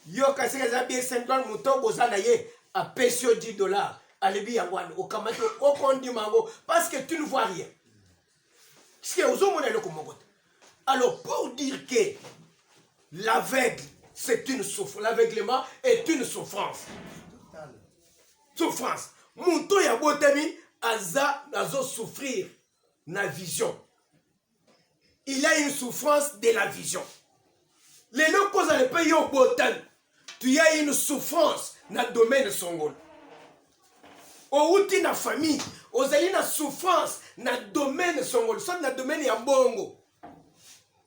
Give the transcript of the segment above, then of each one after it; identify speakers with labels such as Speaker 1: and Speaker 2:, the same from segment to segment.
Speaker 1: yo kasi eza bien syndrome moto boza na ye apesi yo 10 dollars alebi yango wana okamati okondima yango parce que tu ne vois rien ce ozomona eloko moko te alors pour dire que l'aveugle c'est une souffrance l'aveuglement est une souffrance souffrance moto oyo abotami aza azosouffrir na vision il a une souffrance de la vision lelo kozala mpe yo obotani tu as une souffrance na domaine songolo owuti na famille ozali na souffrance na domaine songolo soit na domaine ya mbongo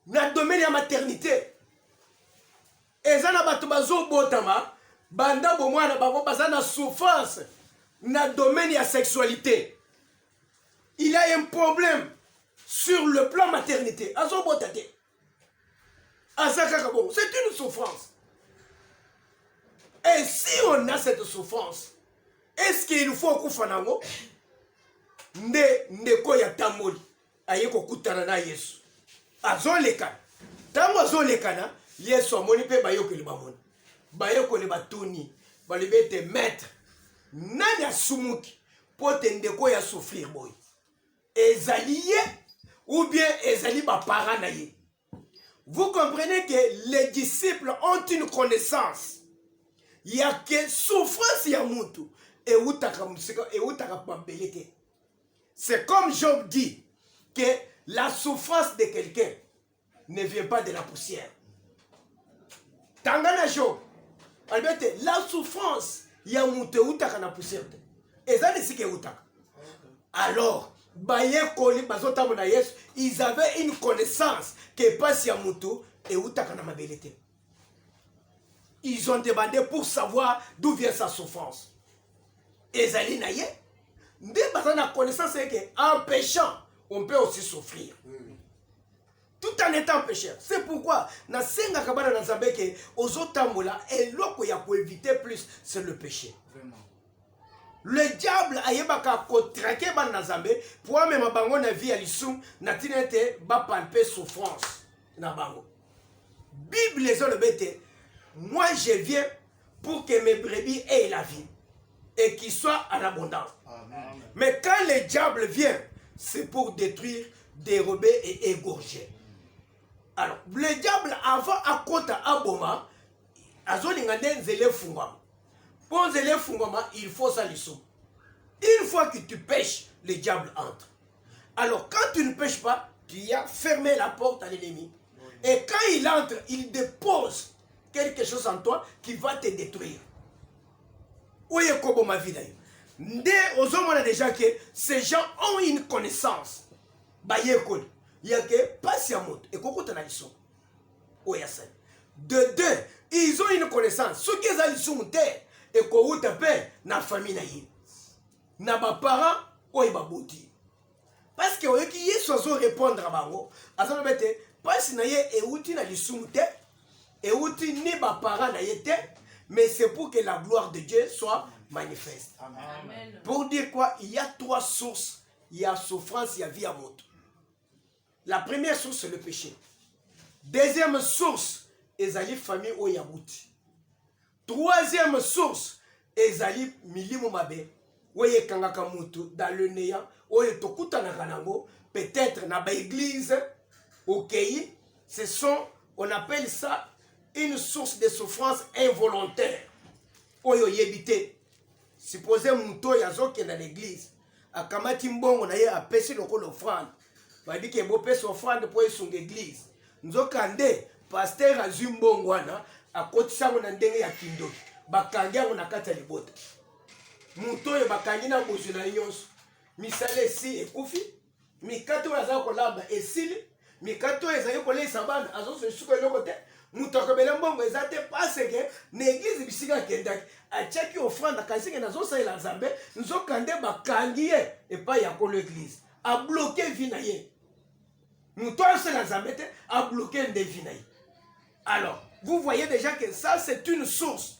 Speaker 1: na domaine ya maternité eza na bato bazobotama banda bomwana bango baza na souffrance na domaine ya sexualité il a un problème sur le plan maternité azobota te aza kaka bongo c'est une souffrance et si on a cette souffrance est ce qu'il faut okufa nango nde ndeko ya tamboli aye kokutana na yesu azolekana ntango azolekana yesu amoni mpe bayokeli bamoni bayekoli batuni balobi ete maître nani asumuki mpo te ndeko oyo asouffrir boye ezali ye ou bien ezali baparent na ye vous comprenez que les disciples ont une connaissance ya ke souffrance ya mutu ewutaka mosika ewutaka mabele te c'est comme job dit que la souffrance de quelqu'un ne vient pas de la poussière. Tangana Job, albete la souffrance ya moto eutaka na poussière te eza na esika eutaka alors bayekoli bazotambola na yesu ils avaient une connaissance ke mpasi ya moto eutaka na mabele te ils ont demandé pour savoir d'où vient sa souffrance ezali na ye nde baza na connaissance eke en péchant on peut aussi souffrir mm. tout en étant pécheur c'est pourquoi nasengaka bana na nzambe eke ozotambola eloko ya koevite plus c'est le péché Vraiment. le diable ayebaka kotrake bana na nzambe mpo amema bango na vie ya lisumu na ntina ete bapalpe souffrance na bango bible ezoloba ete moi je viens pour que mes brebis aient la vie et qu'il soit en abondance Amen. mais quand le diable vient c'est pour détruire dérober et égorger alors le diable avant akota aboma azolinga nde nzela efungwama mpo nzela efungwama il faut sa lisumu une fois que tu pêches le diable entre Alors quand tu ne pêches pas, tu as fermé la porte à l'ennemi. Et quand il entre, il dépose quelque chose en toi qui va te détruire. Oye kobo ma vie d'ailleurs. Nde ozomona déjà que ces gens ont une connaissance. Bayekoli. Il y a que pasi ya moto ekokota na lisoko. Oyo asali. De deux, ils ont une connaissance. Soki eza lisumu te ekowuta mpe na famille na ye. na baparent oyo baboti parceke oyoki yesu azorepondre bango azoloba ete mpasi na ye euti na lisumu te euti ni baparent na ye te mais c'est pour que la gloire de dieu soit manifeste Amen. pour dire quoi il y a trois sources ya souffrance ya vie ya moto la première source c'est le péché deuxième source ezali famille oyo ya buti Troisième source ezali milimo mabe oyo ekangaka moto dans le néant oyo tokutanaka nango peut-être na ba église okei ce sont on appelle ça une source de souffrance involontaire oyo oyebi te suppose moto oyo azokenda na église akamati mbongo na ye apesi lokola ofrande bayebi ke bopesa ofrande mpo esunga eglize nzoka nde paster azwi mbongo wana akotisa yango na ndenge ya kindoki bakangi yango na kati ya libota moto oyo bakangi na bozwi na ye nyonso misala esi ekufi mikate oyo azali kolamba esili mikate oyo ezali koleisa bana azozwa lisuku eloko te moto akobele mbongo eza te paseke na eglize bisika akendaki atiaki ofrande akaniseke nazosalela nzambe nzokande bakangi ye epai ya kolo eglize abloke vi na ye moto asala nzambe te abloke nde vi na ye alors vous voyez déjà que ça c'est une source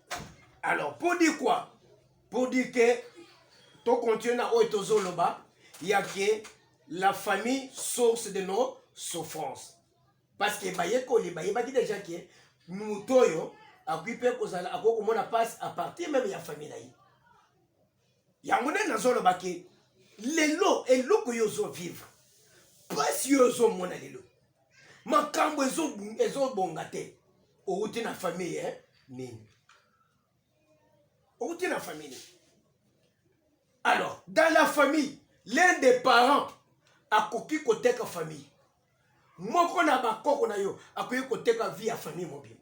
Speaker 1: alors pour dire quoi pour dire que to continue na oyo tozoloba ya ke la famille source de nos souffrances parce que bayekoli bayebaki déjà ke moto oyo akoki mpe kozala akoki komona mpasi à partir meme ya famille na ye yango nde nazoloba ke lelo eloko yo ozovivre mpasi yo ozomona lelo makambo ezobonga te outi na famille eh? nini outi na famille nini alors dans la famille l'un des parents akoki koteka famille moko na bakoko na yo akoki koteka vie ya famille mobimba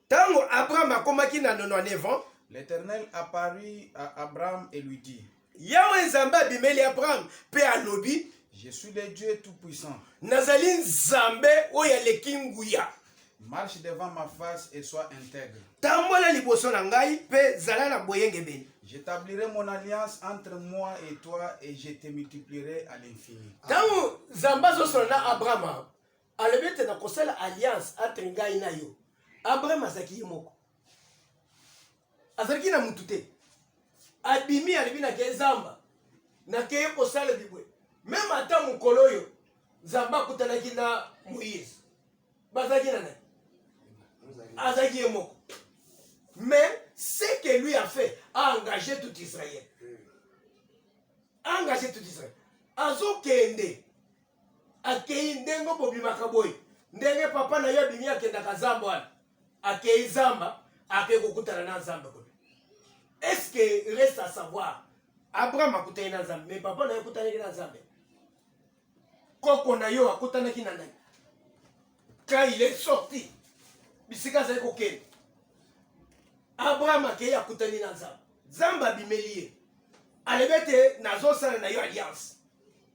Speaker 2: Tango Abraham
Speaker 1: akomaki na 99 ans, L'Eternel apparut
Speaker 2: à Abraham et lui dit, Yawe Nzambe
Speaker 1: abimeli Abraham pe alobi, Je suis le Dieu
Speaker 2: Tout-Puissant. Nazali
Speaker 1: Nzambe oyo aleki nguya. Marche
Speaker 2: devant ma face et sois intègre. Tambola liboso
Speaker 1: na ngai pe zala na boyengebeni. J'établirai mon
Speaker 2: alliance entre moi et toi et je te multiplierai à l'infini. Tango Nzambe
Speaker 1: azosola na Abraham, alobi ete nakosala alliance entre ngai na yo abraham azalaki ye moko azalaki na mutu te abimi alobi nake zamba nakeye kosala bibwe meme ata mokolo oyo zamba akutanaki na moïse bazalaki na nani azalaki ye moko mais ce que lui a fait a engagé tout israël a engagé tout israël azokende akei ndenge bobimaka boye ndenge papa na ye abimi akendaka zamba wana akei zamba akei kokutana na nzambe kuna eske reste à savoir abraham akutani na nzambe me papa na ye akutanaki na nzambe koko na yo akutanaki na nani quand il est sorti bisika azali kokende abraham akei akutani na nzambe nzambe abimeli ye alobi ete nazosala na yo alliance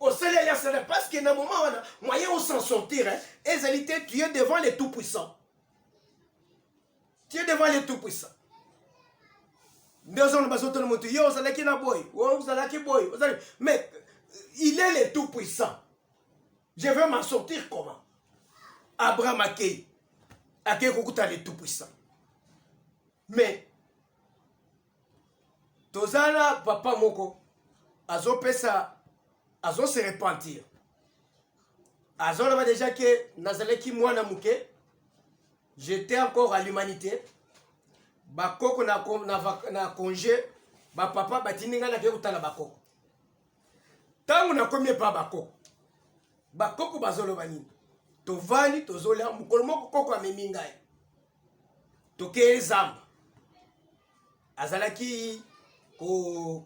Speaker 1: osali alliance na parce que na moment wana moyen o s'en sortir hein, ezali te tu es devant le tout puissant tu es devant le tout puissant nde ozona bazotona moto yo ozalaki na boye ozalaki boye ozali mais il est le tout puissant je veux m'en sortir comment abraham akei akei kokuta le tout puissant mais toza na papa moko azopesa azo se repentir azoloba deja ke nazalaki mwana moke j'étais encore à l'humanité bakoko na, na, na congé bapapa batindi ngai nakei kotala bakoko ntango nakomi epa bakoko bakoko bazoloba nini tovandi tozolya mokolo moko koko amemi ngai tokei zamba azalaki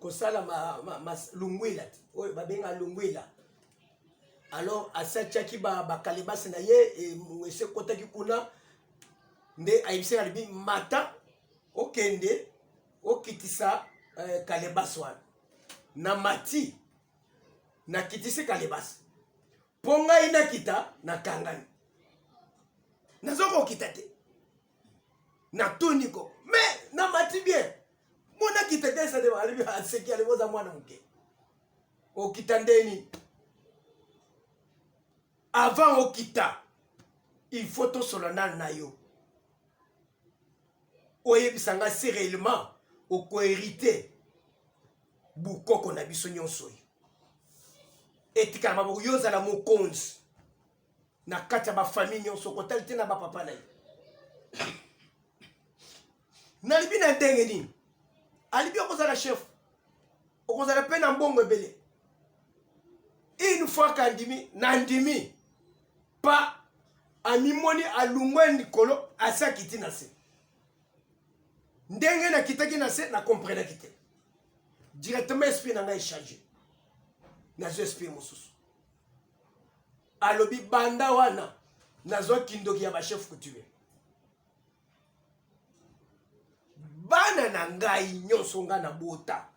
Speaker 1: kosala ma, ma, ma, lungwila oyo babenga lungwila alors asatiaki bakalebasi ba na ye e, esi ekotaki kuna nde ayebisi na libi mata okende okitisa eh, kalebasi wana na mati nakitisi kalebasi mpo ngai nakita nakangani naza kokita te natuni ko me namati bien mpo nakita te esadeaseki alibi oza mwana moke okita ndeni avant okita il faut tosolola nano na yo oyebisa ngai si réellement okoherite bukoko na biso nyonso oyo etikala maboko yo ozala mokonzi na kati ya bafamille nyonso kotali te na bapapa na ye nalibi na ndenge nini alibi okozala chef okozala mpe na mbongo ebele une fois kandimi nandimi pa amimoni alungwe likolo asi akiti na se ndenge nakitaki na se na comprenaki te directement esprit na ngai echange nazwa esprit mosusu alobi banda wana nazwa kindoki ya bachef coutumier bana na ngai nyonso ngai na bota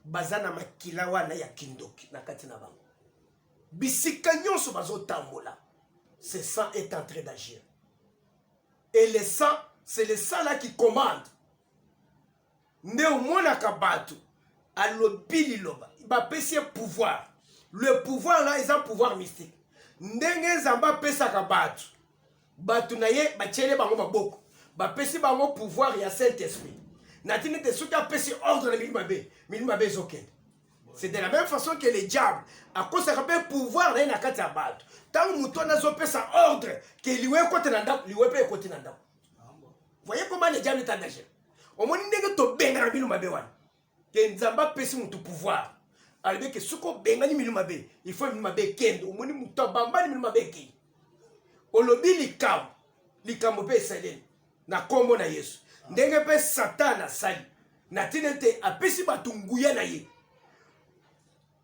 Speaker 1: baza na makila wana ya kindoki na kati na bango bisika nyonso bazotambola ce sang est entré d'agir et le sang c'est le sang là qui commande nde omonaka bato alobi liloba bapesi ye pouvoir le pouvoir là eza pouvoir mystique ndenge nzambe apesaka bato bato na ye batyele bango maboko bapesi bango pouvoir ya saint esprit na ntina ete soki apesi ordre na milimo mabe milimo mabe ezokende c'est de la même façon que le diable akosaka mpe pouvoir na ye na kati ya bato ntango moto wana azopesa ordre ke liwa ekoti na ndako liwa mpe ekoti na ndako voye koma le diable ta danger omoni ndenge tobengana bino mabe wana ke nzambe apesi moto pouvoir alobi ke soki obengani mino mabe ifo mino mabe ekende omoni moto abambani mino mabe ekei olobi likambo likambo mpe esaleli na nkombo na yesu ndenge mpe satana asali na ntina ete apesi bato nguya na ye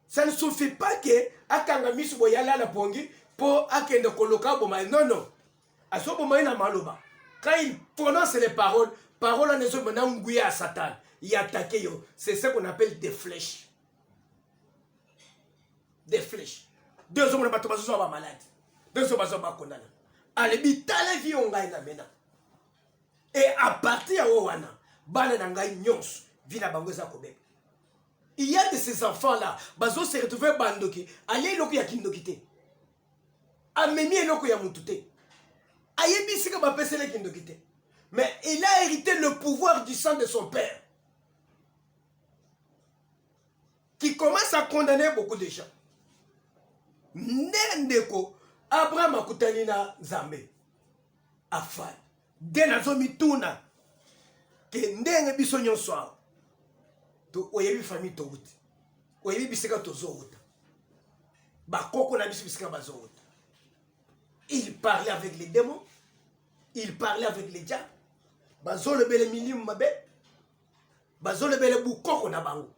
Speaker 1: ça ne suffit pas ke akanga miso boye alala pongi mpo akende koloka aboma ye nono azoboma ye na maloba quand il prononce les paroles parole wana ezobima na nguya ya satana ya atake yo c'est ce qu'on appelle des flèches de flèche de ozo mona bato bazo zwa ba malade de ozo bazo ba kondana alebi tala vie oyo ngai na mena et à partir ya oyo wana bana na ngai nyonso vie na bango eza kobeba il y a de ces enfants là bazo se retrouver bandoki alie eloko ya kindoki te amemi eloko ya mutu te ayebi esika bapesela kindoki te mais il a hérité le pouvoir du sang de son père qui commence à condamner beaucoup de gens nde ndeko abraham akutani na nzambe afai nde nazomituna ke ndenge biso nyonso awa oyebi famille towuti oyebi bisika tozowuta bakoko na biso bisika bazowuta il parlait avec les démons il parlait avec les diables bazolobele milimu mabe bazolobele bukoko na bango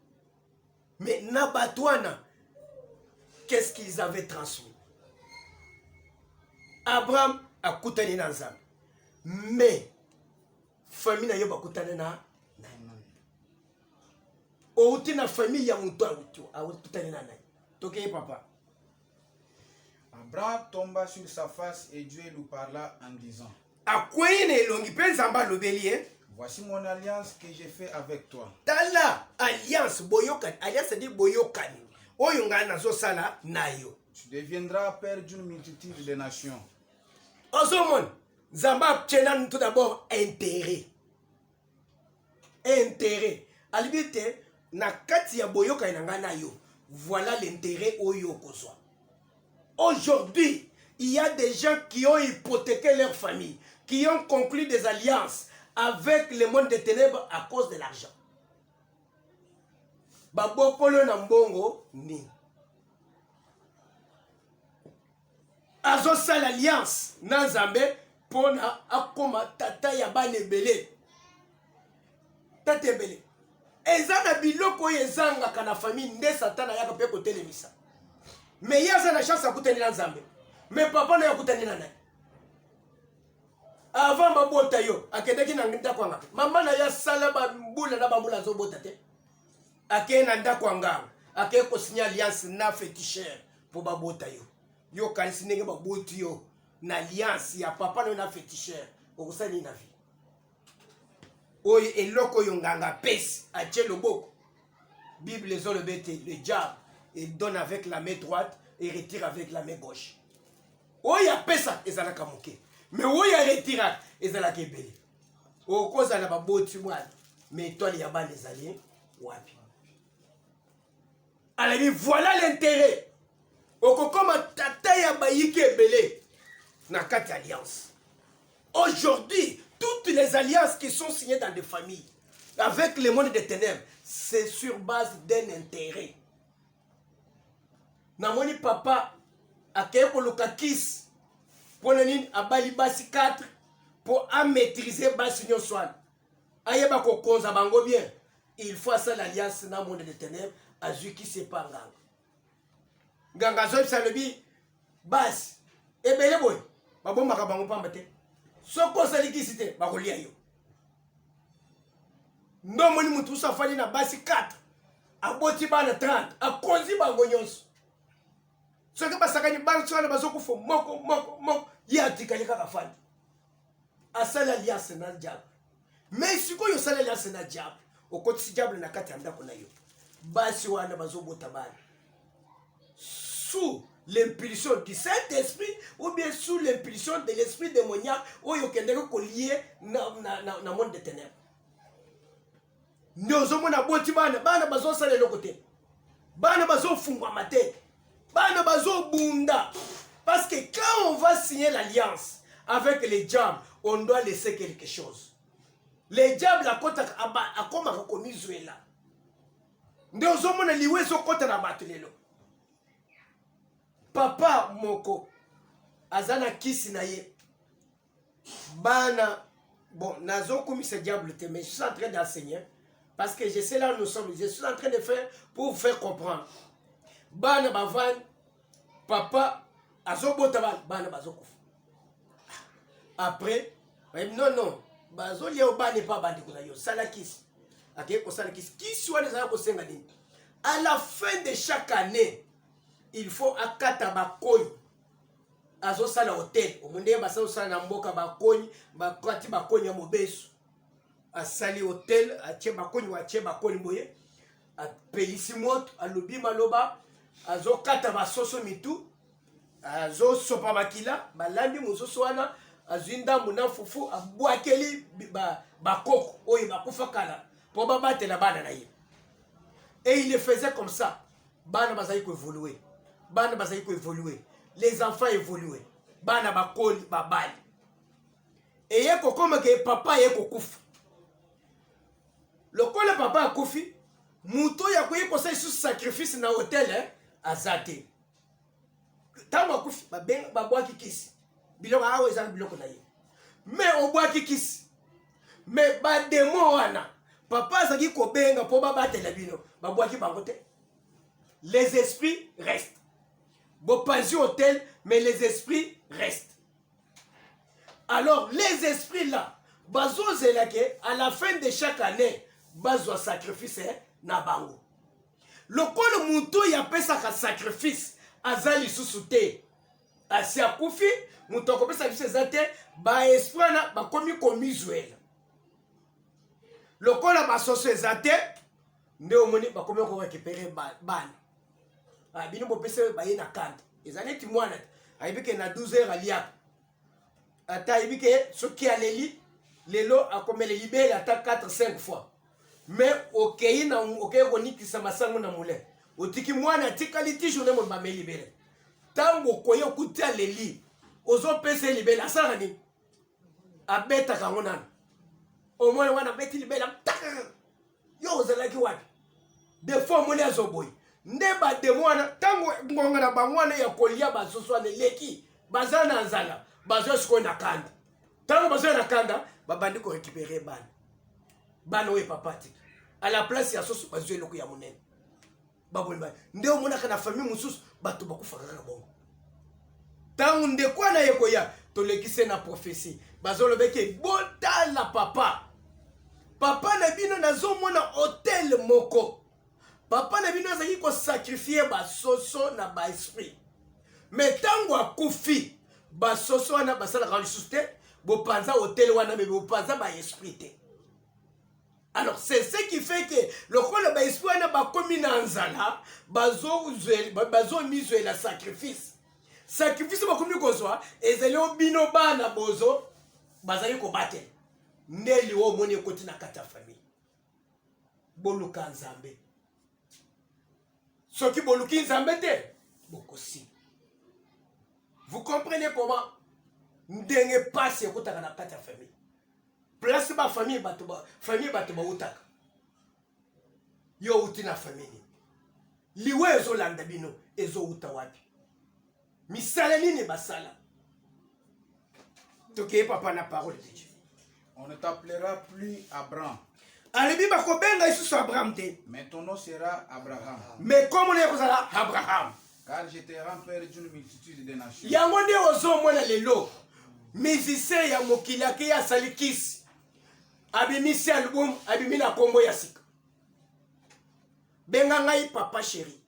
Speaker 1: mais na bato wana qu'est-ce qu'ils avaient transmis abraham akutani na nzambe mais famille na yo bakutani na outi na famille ya moto akutani na nani tokeye papa Abraham
Speaker 2: tomba sur sa face et Dieu lui parla en disant. Akwei na elongi
Speaker 1: mpe Nzambe alobeli ye. Voici mon alliance
Speaker 2: que j'ai fait avec toi. Tala
Speaker 1: alliance boyokani, alliance dit boyokani oyo ngai nazosala na yo. Tu deviendras
Speaker 2: père d'une multitude de nations. Ozomona,
Speaker 1: Nzambe atyela tout d'abord intérêt. interet alibi ete na kati ya boyokani na ngai na yo voilà l'interet oyo okozwa aujourd'hui il y a des gens qui ont hypothéqué leur famille qui ont conclu des alliances avec le monde des ténèbres à cause de l'argent babokolo na mbongo nini azosala alliance na nzambe mpo na akoma tata ya bana ebele tata ebele eza na biloko oyo ezangaka na famille nde satana ayaka mpe kotelemisa me ye aza na chance akutani na nzambe me papa naye akutani na nani avant babota yo akendaki na ndako yanga mama na ye asala bambula na bambula azobota te akei na ndako ya nganga akei kosinya alliance na fetishere mpo babota yo yo okanisi ndenge baboti yo na alliance ya papa nayo na fetishere okosala nini na vie oyo eloko oyo nganga apesi atie loboko bible ezoloba ete le diable il donne avec la main droite et retire avec la main gauche oyo apesa ezalaka moke me oyo aretiraka ezalaka ebele okozala baboti mwana me etwale ya bana ezali wapi alobi voilà l'intérêt okokoma tata ya bayiki ebele na kati ya alliance aujourd'hui toutes les alliances qui sont signées dans des familles avec le monde des ténèbres c'est sur base d'un intérêt namoni papa akei koluka kisi mpo na nini abali basi 4 mpo amaîtrise basi nyonso wana ayeba kokonza bango bien il faut asala alliance na monde de ténèbre azwi kisi epa nganga nganga azoyebisa alobi basi ebele boye babombaka bango mpamba te soki osali kisi te bakolia yo nde omoni motu usu afandi na basi 4 aboti bana 30 akonzi bango nyonso soki basakani basi wana bazokufa moko moko moko ye atikali kaka fandi asali alliance na diable me sikoyo osali alliance na diable okotisi diable na kati ya ndako na yo basi wana bazobota bana sous l'impulsion du saint esprit ou bien sous l'impulsion de l'esprit démoniaque oyo okendaki kolie na, na, na, na monde de ténèbre nde ozomona aboti bana bana bazosala eloko te bana bazofungwama te bana bazobunda parce que quand on va signer l'alliance avec les diables on doit laisser quelque chose les diables akotaka akomaka komizwela nde ozomona liwa ezokɔta na bato lelo papa moko aza na kisi na ye bana bon nazokumisa diable te mais je suis en train d'enseigner parce que je sais là où nous sommes je suis en train de faire pour vous faire comprendre bana bavandi papa azobota bana bana bazokufa après non non bazolia yo bana epa bandeko na yo sala kisi akei kosala kisi kisi wana ezala kosenga nini à la fin de chaque année il faut akata bakoi azosala hotel omo ndenge basala osala na mboka bakoni bakati bakoni ya mobesu asali hotel atie bakoni watie bakoni boye apelisi moto alobi maloba azokata basoso mitu azosopa makila balandi mosusu wana azwi ndambo na fufu abwakeli bakoko oyo bakufa kala mpo babatela bana na ye et il le faisait comme ça bana bazali koevolue bana bazali koevolue les enfants evolue bana bakoli babali eye kokoma ke papa ye kokufa lokola papa akufi moto oyo akoki kosala lisusu sacrifice na hotel eh? aza te ntango akufi babwaki kisi biloko awa eza na biloko na ye me obwaki kisi me bademo wana papa azalaki kobenga mpo babatela bino babwaki bango te les esprits restent bopanzi hotel mais les esprits restent alors les esprits là bazozela ke à la fin de chaque année bazwa sacrifice eh, na bango lokola moto oyo apesaka sacrifice aza lisusu te asi akufi moto akopesa biso eza te baesprit wana bakomi komizwela lokola basoso eza te nde omoni bakomi korekipere bana ah, bino bopesa baye na kanda eza neti mwana te ayebi ke na 12 heure aliaka ata ayebi ke soki aleli lelo akomele libele ata 4 5 fois mais okei na okei konikisa masango na moulin otiki mwana atikali ti journe moni bameli libele ntango okoye okuti aleli ozopesa ye libele asalaka nini abetaka yango nano omwana wana abeti libele yo ozalaki wapi defo omoni azoboyi nde bademo wana ntango ngonga na bango wana ya kolia basusu wana eleki baza na nzala bazwa sikoyo na kanda ntango bazwa na kanda babandi korekipere bana bana oyo epapati à la place ya soso bazwi eloko ya monene baboni ba nde omonaka na famille mosusu bato bakufaka kaka bongo ntango ndeko wana ye koya tolekise na profesi bazolobeke botala papa papa na bino nazomona hotel moko papa na bino azalaki kosakrifie basoso na baesprit me ntango akufi basoso wana basalaka lisusu te bopanza hotel wana me bopanza baesprit te alors c'est ce qui fait que lokola baesprit wana bakomi na nzala bazomizwela sacrifice sacrifice bakomi kozwa ezali o bino bana bozo bazali kobatela nde liwa omoni ekoti na kati ya famille boluka nzambe soki boluki nzambe te bokosi vous comprenez comment ndenge mpasi ekotaka na kati ya famille place ba famille bato ba famille bato bautaka yo outi na famille nini liwa ezolanda bino ezouta wapi misala nini basala tokeye papa na parole de dieu on ne t'appellera
Speaker 2: plus abraham alobi
Speaker 1: bakobenga lisusu abraham te mais ton nom sera
Speaker 2: abraham mais komona
Speaker 1: ekozala abraham
Speaker 2: Car je te rends père d'une multitude de
Speaker 1: nations. Yango nde ozomona lelo musicien ya mokili akei asali kisi abimisi album abimi na nkombo ya sika benga ngai papa sheri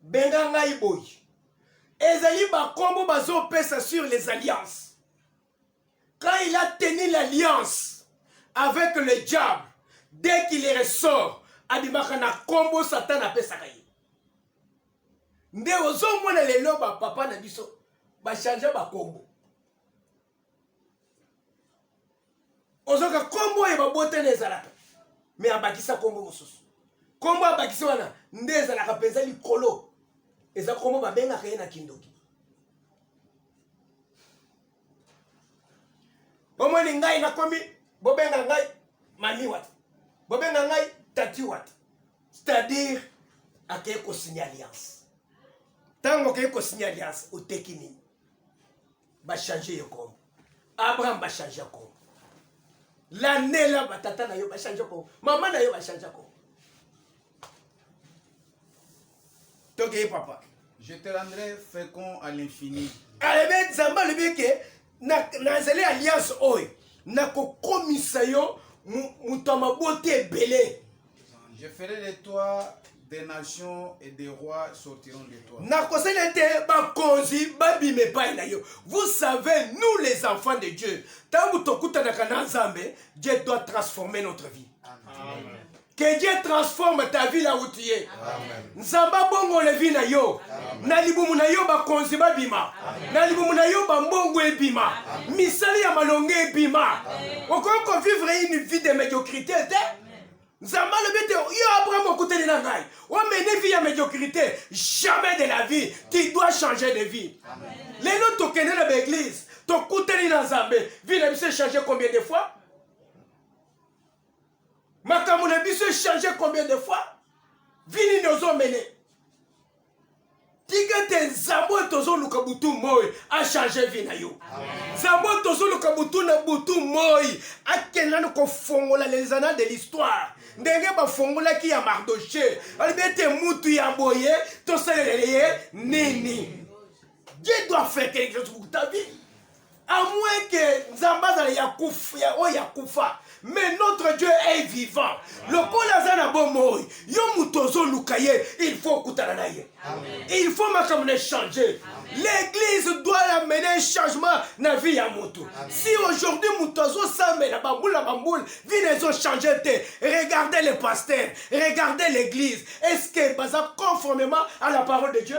Speaker 1: benga ngai boyi ezali bankombo bazopesa sur les alliances Quand il a tenu l'alliance avec le diable, dès qu'il ressort, abimaka na kombo Satan apesaka ye. Nde ozomona lelo ba papa na biso ba changer ba kombo. Ozoka kombo ya babotana ezalaka, mais abakisa kombo mosusu. Kombo abakisa wana nde ezalaka mpenza likolo, eza kombo babengaka ye na kindoki. bomoni ngai nakomi bobenga ngai mami wata bobenga ngai tati wata c'est-à-dire akei kosinya alliance ntango okei kosinya alliance oteki nini bachange yo kombo abraham bachange kombo lanela batata na yo bachange kombo mama na yo bachange kombo tokeye papa je te rendrai
Speaker 2: fécond à l'infini alobi ah, nzambe
Speaker 1: alobi eke nazali alliance oyo nakokomisa yo moto ya mabota ebele je ferai
Speaker 2: de toi des nations et des rois sortiront de toi. nakosala te bakonzi babima
Speaker 1: epai na yo vous savez nous les enfants de dieu ntango tokutanaka na nzambe dieu doit transformer notre vie Amen. Amen.
Speaker 2: Que Dieu
Speaker 1: transforme ta vie là où tu es. Nzambe abongola vie na yo. Na libumu na yo bakonzi babima. Na libumu na yo bambongo ebima. Misala ya malonga ebima. Okoki ko vivre une vie de médiocrité te. Nzambe alobi te yo Abraham okutani na ngai. Omene vie ya médiocrité. Jamais de la vie. Tu dois changer de vie. Lelo tokende na baeglise. Tokutani na Nzambe. Vie na biso echange combien de fois? makambo na biso echange combien de fois vi nini ozomene tika te nzambe oyo tozoluka butu moi achange vi na yo nzambe oyo tozoluka butu na butu moi akenda na kofongola les annales de l'histoire ndenge bafongolaki ya mardoche alobi ete mutu ya boye tosalela ye nini Dieu doit faire quelque chose pour ta vie. À moins que Nzambazala ya kufa, ya oya kufa. Mais notre Dieu est vivant. Le kola zana bomoy. Yo mutozo lukaye. Il faut kutana na ye. Il faut makamune changer. L'église doit amener un changement na vie ya mutu. Si aujourd'hui mutozo same na bamboul na bamboul, vie na ezo changer te. Regardez les pasteurs. Regardez l'église. Est-ce que baza conformément à la parole de Dieu?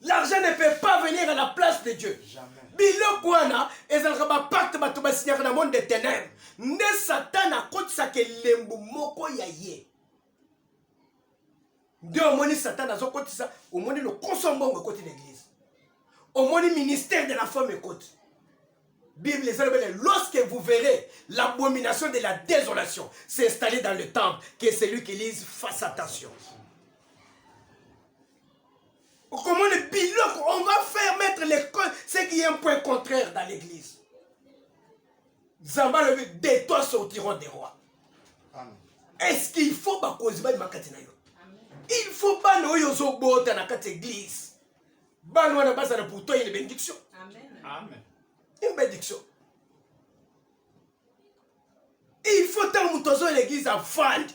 Speaker 1: L'argent ne peut pas venir à la place de Dieu. biloko wana ezalaka bapacte bato basinyaka na monde de ténèbre nde satana akotisaka elembo moko ya ye nde omoni satana azokotisa omoni lokoso mbongo ekoti na eglise omoni ministère de la femme ekoti bible eza lobele lorsque vous verrez l'abomination de la désolation s'installer dans le temple que celui qui lise fasse attention okomona biloko on va faire mettre l'école ce qui est un point contraire dans l'église nzambe alobi de toi sortiront des rois est-ce qu'il faut bakonzi balima kati na yo il faut bana oyo ozobota na kati église bana wana bazala pour toi une bénédiction
Speaker 2: une
Speaker 1: bénédiction il faut ntango moto azoya na eglize afandi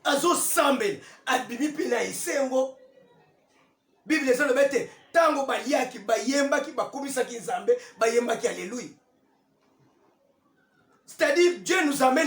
Speaker 1: azosambela abimi mpe na esengo biblia ezoloba ete ntango baliaki bayembaki bakumisaki nzambe bayembaki aleluya c'est-à-dire dieu nous amène